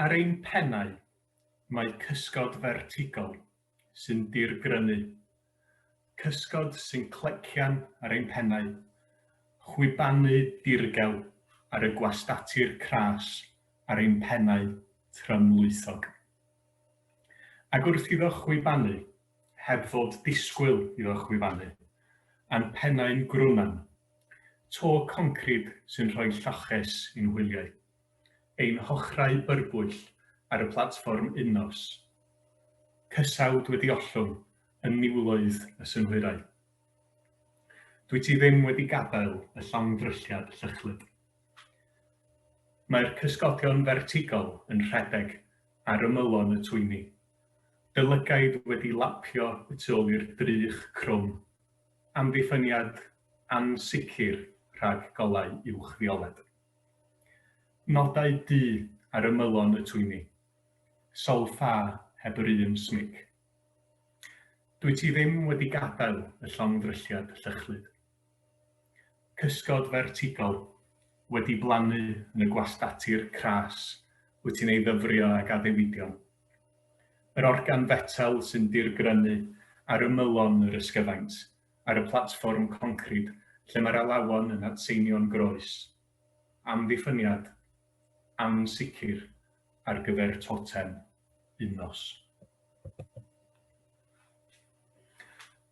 Ar ein pennau, mae cysgod fertigol sy'n dirgrynu, cysgod sy'n clecian ar ein pennau, chwibanu dirgel ar y gwastatir cras ar ein pennau trymlwythog. Ac wrth iddo chwibanu, heb fod disgwyl iddo chwibanu, a'n pennau'n grwnan, to concrid sy'n rhoi lloches i'n hwyliau. ein hochrau byrbwyll ar y platfform Unnos. Cysawd wedi ollwng yn niwloedd y synhwyrau. Dwyt ti ddim wedi gadael y llongddrylliad llychlyd. Mae'r cysgodion fertigol yn rhedeg ar ymylon y twyni, dy lygaid wedi lapio y tu ôl i'r drych crwm, amddiffyniad ansicr rhag golau uwch-fioled. Nodau du ar ymylon y twyni. Sawl ffa heb yr un smic. Dwyt ti ddim wedi gadael y llongddrylliad llychlyd. Cysgod fertigol wedi blannu yn y gwastatir cras wyt ti'n ei ddyfrio ag addewidion. Yr organ fetel sy'n dirgrynu ar ymylon yr ysgyfaint ar y platfform concrid lle mae'r alawon yn atseinio'n groes, amddiffyniad ansicr ar gyfer totem un nos.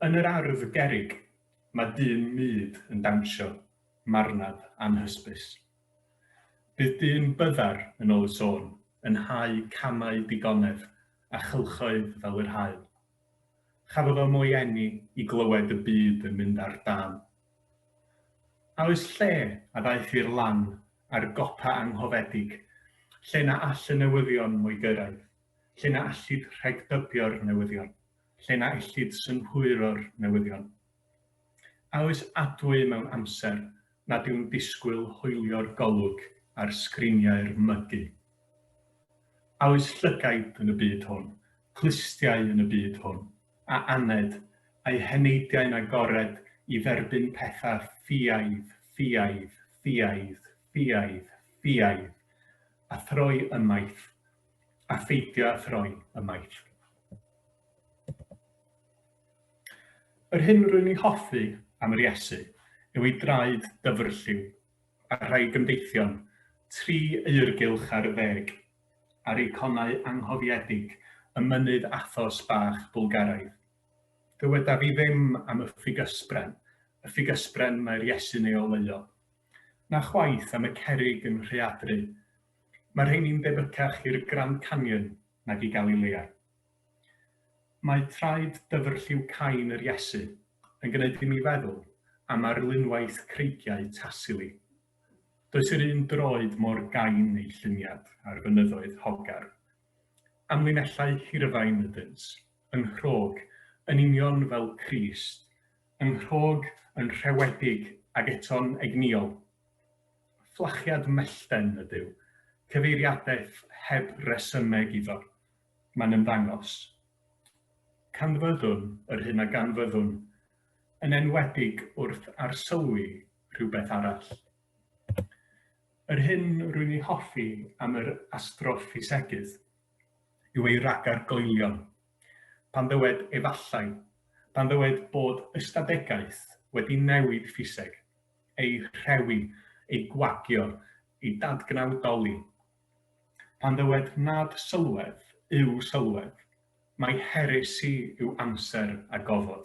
Yn yr ardd gerrig, mae dyn mud yn dawnsio, marnad anhysbys. Bydd dyn byddar, yn ôl y sôn, yn hau camau digonedd a chylchoedd fel yr haul. Chafodd o mo'i eni i glywed y byd yn mynd ar dân. A oes lle a ddaeth i'r lan a'r gopa anghofedig, lle na all y newyddion mo'i gyrraedd, lle na allid rhegdybio'r newyddion, lle na ellid synhwyro'r newyddion? A oes adwy mewn amser nad yw'n disgwyl hoelio'r golwg ar sgriniau'r mygi? A oes llygaid yn y byd hwn, clustiau yn y byd hwn, a aned, a'u heneidiau'n agored i dderbyn pethau ffiaidd, ffiaidd, ffiaidd, ffiaidd, ffiaidd, a throi ymaith, a pheidio â throi ymaith? Yr hyn rwy'n ei hoffi am yr Iesu yw ei draed dyfrlliw, a rhai gymdeithion, tri eirgylch ar ddeg, a'r eiconau anghofiedig ym mynydd Athos bach Bwlgaraidd. Dywedaf i ddim am y ffugysbren, y ffugysbren mae'r Iesu'n ei oleuo. Na chwaith am y cerrig yn rhaeadru. Mae rheini'n debycach i'r Grand Canyon nag i Galilea. Mae traed dyfrlliw cain yr Iesu yn gwneud i mi feddwl am arlunwaith creigiau Tassili. Does yr un droed mor gain ei lluniad ar fynyddoedd Hogar. Amlinellau hirfaen ydynt, yn nghrog, yn union fel Crist, yn nghrog, yn rhewedig ag eto'n egnïol. Fflachiad mellten ydyw, cyfeiriadaeth heb resymeg iddo, Mae'n ymddangos. Canfyddwn yr hyn a ganfyddwn, yn enwedig wrth arsylwi rhywbeth arall. Yr hyn rwy'n ei hoffi am yr astroffisegydd yw ei ragor goelion. Pan ddywed 'efallai', pan ddywed bod ystadegaeth wedi newid ffiseg, ei rhewi, ei gwagio, ei dadgnawdoli, Pan ddywed nad sylwedd yw sylwedd, mai heresi yw amser a gofod.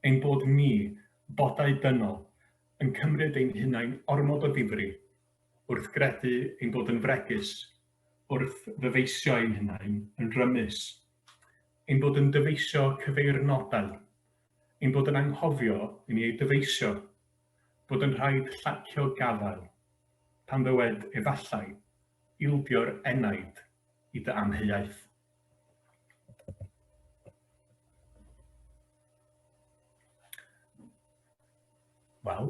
Ein bod ni, bodau dynol, yn cymryd ein hunain ormod o ddifri, wrth gredu ein bod yn fregus, wrth ddyfeisio ein hunain yn rymus, ein bod yn dyfeisio cyfeirnodau, ein bod yn anghofio i ni eu dyfeisio, bod yn rhaid llacio gafael, pan ddywed efallai, ildio'r enaid i dy amheuaeth. Wel,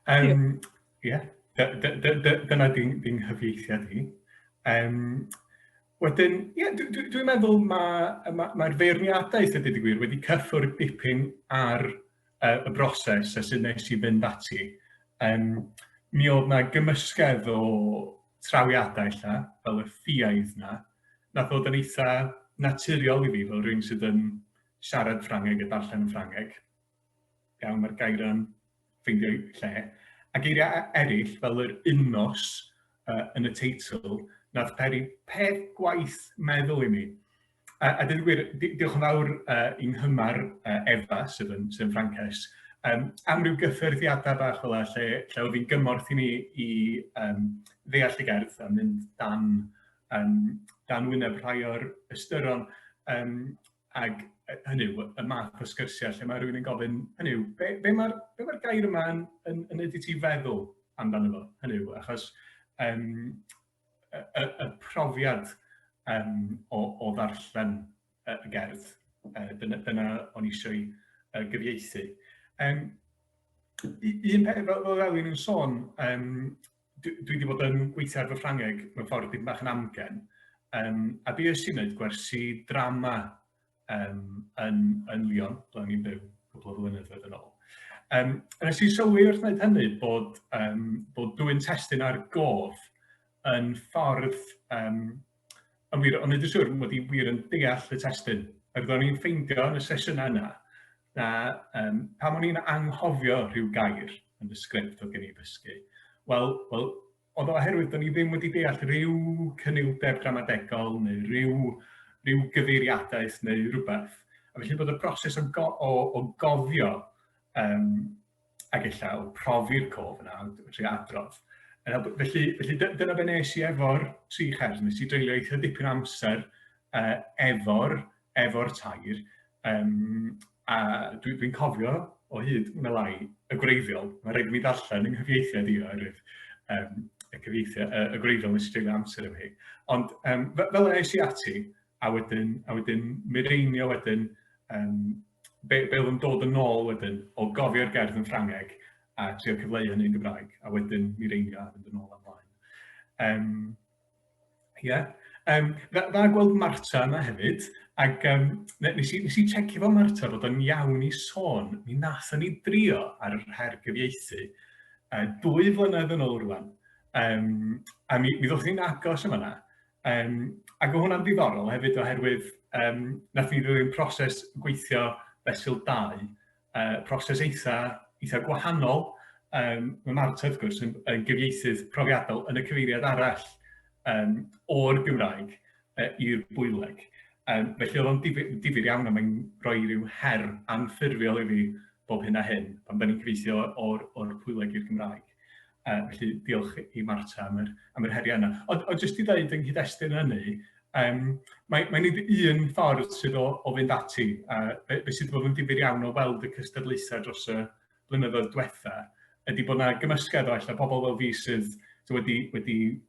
um, yeah, dyna dy, dy nghyfieithiad i. Um, wedyn, ie, yeah, dwi'n dwi, dwi meddwl mae'r ma, ma, ma feirniadaeth, ydy wedi gwir, wedi cyffwrdd dipyn ar uh, y broses a sut nes i fynd ati, um, mi oedd na gymysgedd o trawiadau lla, fel y ffiaidd na, na bod yn eitha naturiol i fi fel rhywun sydd yn siarad Ffrangeg a darllen yn Ffrangeg. Iawn, mae'r gair yn ffeindio lle. A geiriau eraill fel yr unnos uh, yn y teitl, nath peri peth gwaith meddwl i mi. A, a dweud gwir, diolch yn fawr uh, i'n hymar uh, Efa, sydd yn, sydd yn Ffrances, um, am ryw gyffyrddiadau bach fel lle, lle oedd hi'n gymorth i ni i um, ddeall y gerdd a mynd dan, um, dan wyneb rhai o'r ystyron. Um, ac hynny yw, y math o sgyrsiau lle mae rhywun yn gofyn, hynny yw, be, be mae'r be ma gair yma yn, yn, yn ydy ti feddwl amdano fo? Hynny yw, achos um, y, y, y profiad um, o, o ddarllen y gerdd. Uh, dyna, dyna o'n eisiau uh, gyfieithu. Um, un peth, fel, fel Elin yn sôn, um, dwi, dwi wedi bod yn gweithio ar fy Ffrangeg mewn ffordd dipyn bach yn amgen, um, a be ys i'n gwneud gwersi drama um, yn, yn Lyon, ble o'n i'n byw cwbl o flynyddoedd yn ôl. Um, nes i sylwi wrth wneud hynny bod, um, bod dwy'n testyn ar gof yn ffordd um, yn wir, ond nid yn siŵr mod i wir yn deall y testyn. Ac roeddwn i'n ffeindio yn y sesiwn yna, na um, pan o'n i'n anghofio rhyw gair yn y sgript oedd gen i ddysgu, wel, wel Ond oherwydd bod ni ddim wedi deall rhyw cyniwdeb gramadegol neu rhyw, rhyw gyfeiriadaeth neu rhywbeth, a felly bod y broses o, go, o, o gofio um, ac ella o profi'r cof yna, trwy adrodd. Felly, felly dyna be nes i efo'r tri chers, nes i dreulio eitha dipyn amser uh, efo'r efo'r tair, um, a dwi'n dwi cofio o hyd yn y lai y gwreiddiol, mae rhaid mi ddarllen yng nghyfieithiad i oherwydd um, y cyfieithiad, y, y gwreiddiol nes i dreulio amser efo hi. Ond um, fel yna eisiau ati, a wedyn, a wedyn mireinio wedyn um, be, be oedd yn dod yn ôl wedyn o gofio'r gerdd yn Ffrangeg a trio cyfleu hynny'n Gymraeg, a wedyn mi reinio a fynd yn ôl amlaen. Um, Ie. Yym dda dda gweld Marta yna hefyd ac yym ne- nes i nes i checio efo Marta bod o'n iawn i sôn, mi nathon ni drio ar yr her gyfieithu yy dwy flynedd yn ôl rŵan yym a mi mi ddothon ni'n agos yn fan 'na yym ac o' hwnna'n ddiddorol hefyd oherwydd yym nathon ni ddilyn proses gweithio fesul dau uh, proses eitha, eitha gwahanol. Um, mae Marta, wrth gwrs, yn, yn gyfieithydd profiadol yn y cyfeiriad arall um, o'r Gymraeg uh, i'r bwyleg. Um, felly oedd o'n difyr, difyr iawn a mae'n rhoi rhyw her anffurfiol i fi bob hyn a hyn pan da ni'n cyfeithio o'r, or bwyleg i'r Gymraeg. Yy felly diolch i i Marta am yr am yr heriau yna. Ond ond jyst i ddeud yng nghyd-destun hynny yym mae mae nid un ffordd sydd o o fynd ati a be be sydd wedi bod yn ddifyr iawn o weld y cystadlaethau dros y blynyddoedd diwetha ydy bod 'na gymysgedd o ella pobl fel fi sydd sy wedi wedi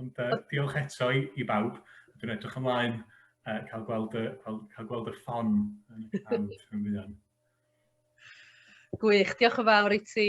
Ond uh, diolch eto i, i bawb. Dwi'n edrych ymlaen uh, cael, gweld y, cael, cael gweld y ffon yn y cam rhywun. Gwych, diolch yn fawr i ti,